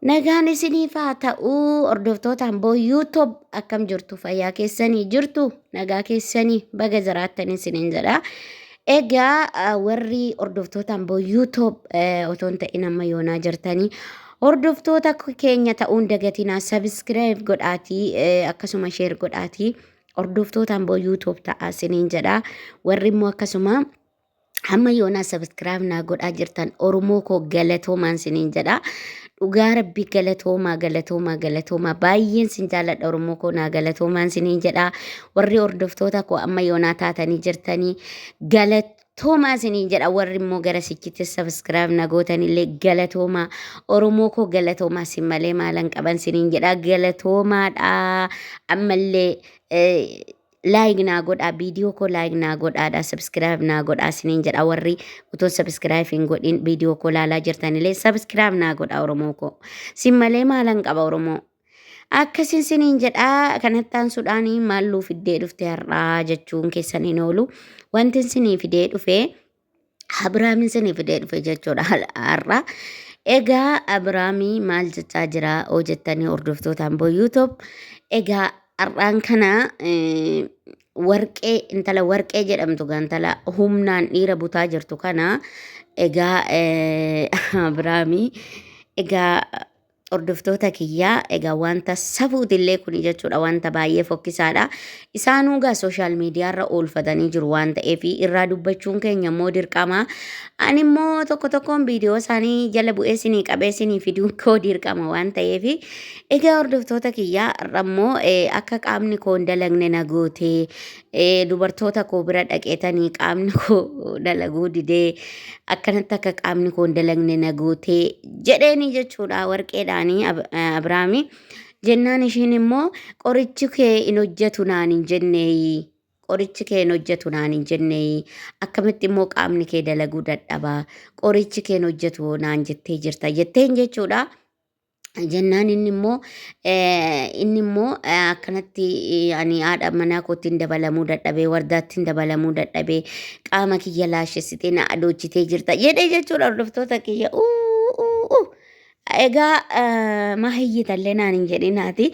Nagaan isiniif haa ta'uu hordoftoota Amboo YouTube akkam jirtu fayyaa keessanii jirtu nagaa keessanii baga jiraattan isiniin jedha. Egaa ah, warri hordoftoota Amboo YouTube eh, otoo hin ta'in amma yoonaa jirtanii hordoftoota keenya ta'uun dagatinaa subscribe godhaatii eh, akkasuma share godhaatii hordoftoota Amboo YouTube ta'a isiniin jedha. Warri immoo akkasuma Hamma yoonaa sabiskiraayib naa godhaa jirtan Oromoo koo galatoomaan siniin jedha. Dhugaa rabbii galatoomaa galatoomaa galatoomaa baay'een sin jaalladha Oromoo koo naa galatoomaan siniin jedha. Warri hordoftoota koo amma yoonaa taatanii jirtanii galatoomaa siniin jedha. Warri immoo gara sichitti sabiskiraayib na gootanillee galatoomaa Oromoo koo galatoomaa sin malee maalan qaban siniin jedha galatoomaadha. Ammallee eh, like naa godhaa viidiyoo koo like naa godhaadha subscribe naa godhaa isiniin jedha warri utuu subscribe hin godhin viidiyoo koo laalaa jirtanilee subscribe naa godhaa oromoo koo sin malee maalan qaba oromoo akkasin siniin jedhaa kanattaan sudhaanii maalluu fiddee dhufte har'aa jechuun keessan hin oolu wantin sinii fidee dhufee Abiraamiin sinii fidee dhufe jechuudha har'a. Egaa Abiraamii maal jechaa jira oo jettanii hordoftootaan boo YouTube. Egaa har'aan kana eh, warqee intala warqee jedhamtu gaa intala humnaan dhiira butaa jirtu kana egaa eh, Abiraamii egaa Hordoftoota kiyyaa egaa wanta safuutillee kuni jechuudha wanta baay'ee fokkisaadha. Isaanuu egaa sooshaal miidiyaarra oolfatanii jiru waan ta'eef irraa dubbachuun keenya immoo dirqama. Ani immoo tokko tokkoon viidiyoo isaanii jala bu'ee sinii qabee sinii fiduun koo dirqama waan ta'eef egaa hordoftoota kiyyaa har'a immoo eh, akka qaamni koo hin dalagne na gootee Eh, dubartoota koo bira dhaqeetanii qaamni koo dalaguu didee akkanatti akka qaamni koo hin dalagne na gootee jedheeni jechuudha warqeedhaanii Ab- eh, Abrahaami. Jennaan ishiin immoo qorichi kee hin hojjetu naan hin jenneeyi. Qorichi kee hin hojjetu naan hin jenneeyi. Akkamitti immoo qaamni kee dalaguu dadhaba. Qorichi kee hin hojjetu naan jettee jirta jetteen jechuudha. jennaan inni immoo eh, inni immoo eh, akkanatti eh, ani haadha manaa kootiin dabalamuu dadhabee wardaattiin dabalamuu dadhabee qaama kiyya laashessitee na adoochitee jirta jedhee jechuudha hordoftoota kiyya uu uu uu. Egaa eh, maa hiyyitallee naan hin jedhinaati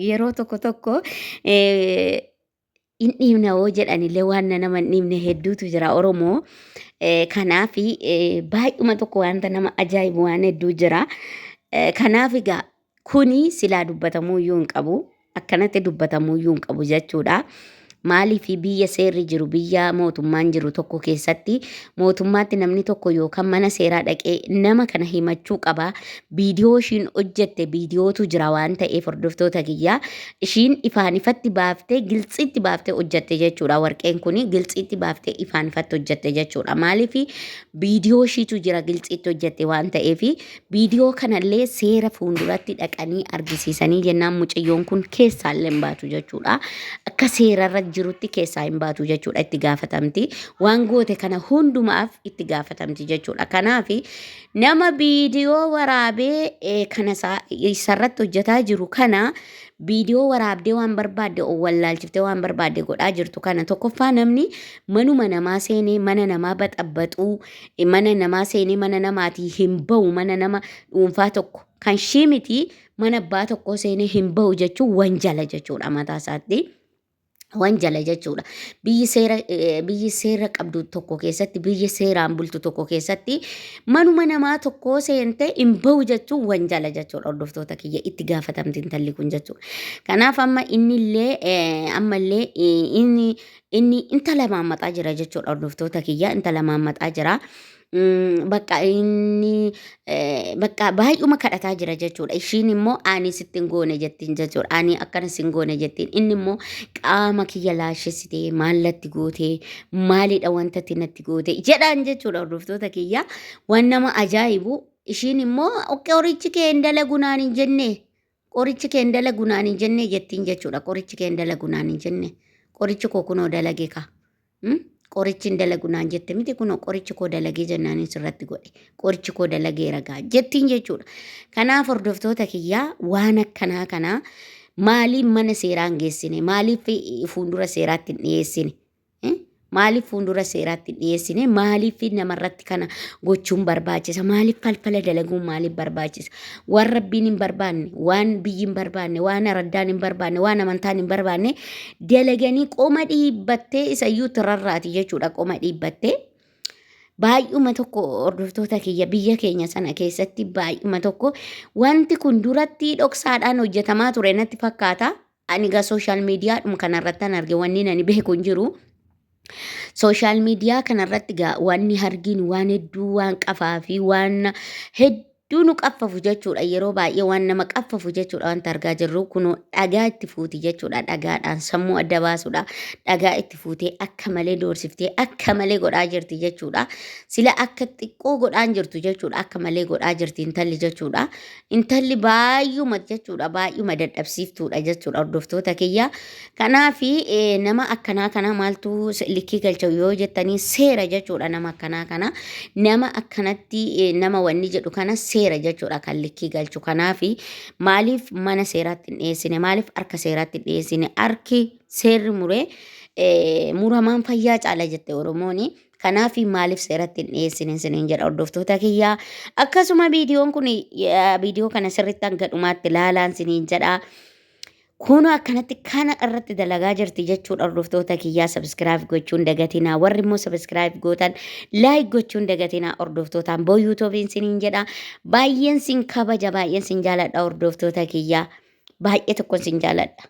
yeroo tokko tokko eh, hin dhiibna hoo jedhanillee waan na nama hin dhiibne hedduutu jira Oromoo. Eh, Kanaaf eh, baay'uma tokko wanta nama ajaa'ibu waan hedduu jira. Eh, Kanaaf egaa kuni silaa dubbatamuu iyyuu hin qabu. Akkanatti dubbatamuu iyyuu hin qabu jechuudha. Maaliif biyya seerri jiru, biyya mootummaan jiru tokko keessatti mootummaatti namni tokko yookaan mana seeraa dhaqee nama kana himachuu qaba. Viidiyoo ishiin hojjette viidiyootu jira waan ta'eef hordoftoota kiyyaa ishiin ifaan ifatti baaftee giltsiitti baaftee hojjette jechuudha. Warqeen kun giltsiitti baaftee ifaan ifatti hojjette jechuudha. Maaliif viidiyoo ishiitu jira giltsiitti hojjette waan ta'eef Viidiyoo kanallee seera fuulduratti dhaqanii argisiisanii jennaan mucayyoon kun keessaallee hin baatu jechuudha. Akka seerarra jirutti keessaa hin baatu jechuudha itti gaafatamti. Waan goote kana hundumaaf itti gaafatamti jechuudha. Kanaaf nama viidiyoo waraabee eh, kana isaa- isarratti hojjetaa jiru kana viidiyoo waraabdee waan barbaadde wallaalchiftee waan barbaadde godhaa jirtu kana tokkoffaa namni manuma namaa seenee mana namaa baxabbaxuu mana namaa seenee mana namaatii hin bahu mana nama dhuunfaa tokko kan shii miti mana abbaa tokkoo seenee hin bahu jechuun wanjala jechuudha mataa isaatti. Wanjala jechuudha. Biyyi seera eh, biyyi seera qabdu tokko keessatti biyyi seeraan bultu tokko keessatti manuma namaa tokkoo seentee hin bahu jechuun wanjala jechuudha hordoftoota kiyya itti gaafatamti intalli kun jechuudha. Kanaaf amma innillee eh, ammallee eh, inni inni intala maammaxaa jira jechuudha hordoftoota kiyya intala maammaxaa jira. Mm, Bakka inni eh, bakka baay'uma kadhataa jira jechuudha. Ishiin immoo ani sitti hin goone jettiin jechuudha. Ani akkana sin goone jettiin. Inni immoo qaama kiyya laashessitee maallatti gootee maalidha wanta ati natti goote jedhaan jechuudha hordoftoota kiyya. Waan nama ajaa'ibu ishiin immoo okkee horichi kee hin dalagu naan hin jenne. Qorichi keen dalagu naan hin jennee jettiin jechuudha. Qorichi keen dalagu naan hin jenne. Qorichi koo kunoo dalage ka. Hmm? Qorichi hin dalagu naan jette miti kunoo qorichi koo dalagee jennaan hin sirratti godhe. Qorichi koo dalagee ragaa jettiin jechuudha. Kanaaf hordoftoota kiyyaa waan akkanaa kanaa maaliif mana seeraan geessine maaliif fuuldura seeraatti hin dhiyeessine Maaliif fuuldura seeraatti hin dhiyeessine? Maaliif namarratti kana gochuun barbaachisa? Maaliif falfala dalaguun maaliif barbaachisa? Waan rabbiin hin barbaanne, waan biyyi hin barbaanne, waan araddaan hin barbaanne, waan amantaan hin barbaanne dalaganii qoma dhiibbattee isayyuu tirarraati jechuudha qoma dhiibbattee. Baay'uma tokko hordoftoota kiyya biyya keenya sana keessatti baay'uma tokko wanti kun duratti dhoksaadhaan hojjetamaa ture natti fakkaata. Ani gaa social media dhum kanarrattan arge wanni nani beeku hin jiru. Social media kanarratti gaa wanni hargiin waan hedduu waan qafaa fi waan hedduu nu qaffafu jechuudha. Yeroo baay'ee waan nama qaffafu jechuudha wanta argaa jirru kunoo dhagaa itti fuuti jechuudha. Dhagaadhaan sammuu adda baasuudha. Dhagaa itti fuutee akka malee doorsiftee akka malee godhaa jirti jechuudha. Sila akka xiqqoo godhaan jirtu jechuudha. Akka malee godhaa jirti intalli jechuudha. Intalli baay'uma jechuudha baay'uma dadhabsiiftuudha jechuudha hordoftoota kiyya. Kanaaf nama akkanaa kana maaltu likkii galcha yoo jettanii seera jechuudha nama akkanaa kana. Nama akkanatti nama wanni jedhu kana seera jechuudha kan likkii galchu. Kanaaf maaliif mana seeraatti hin dhiyeessine maaliif harka seeraatti hin dhiyeessine harki seerri muree muramaan fayyaa caala jette Oromooni. Kanaafi maaliif seeratti hin dhiyeessine isiniin jedha hordoftoota kiyyaa. Akkasuma viidiyoon kun viidiyoo kana sirriitti hanga dhumaatti ilaalaan isiniin jedha. Kunoo akkanatti kana irratti dalagaa jirti jechuudha hordoftoota kiyyaa sabiskiraayib gochuun dagatinaa warri immoo sabiskiraayib gootan laayik gochuun dagatinaa hordoftootaan boo yuutuubiin isiniin jedha baay'een sin kabaja baay'een sin jaaladha hordoftoota kiyyaa baay'ee tokkon sin jaaladha.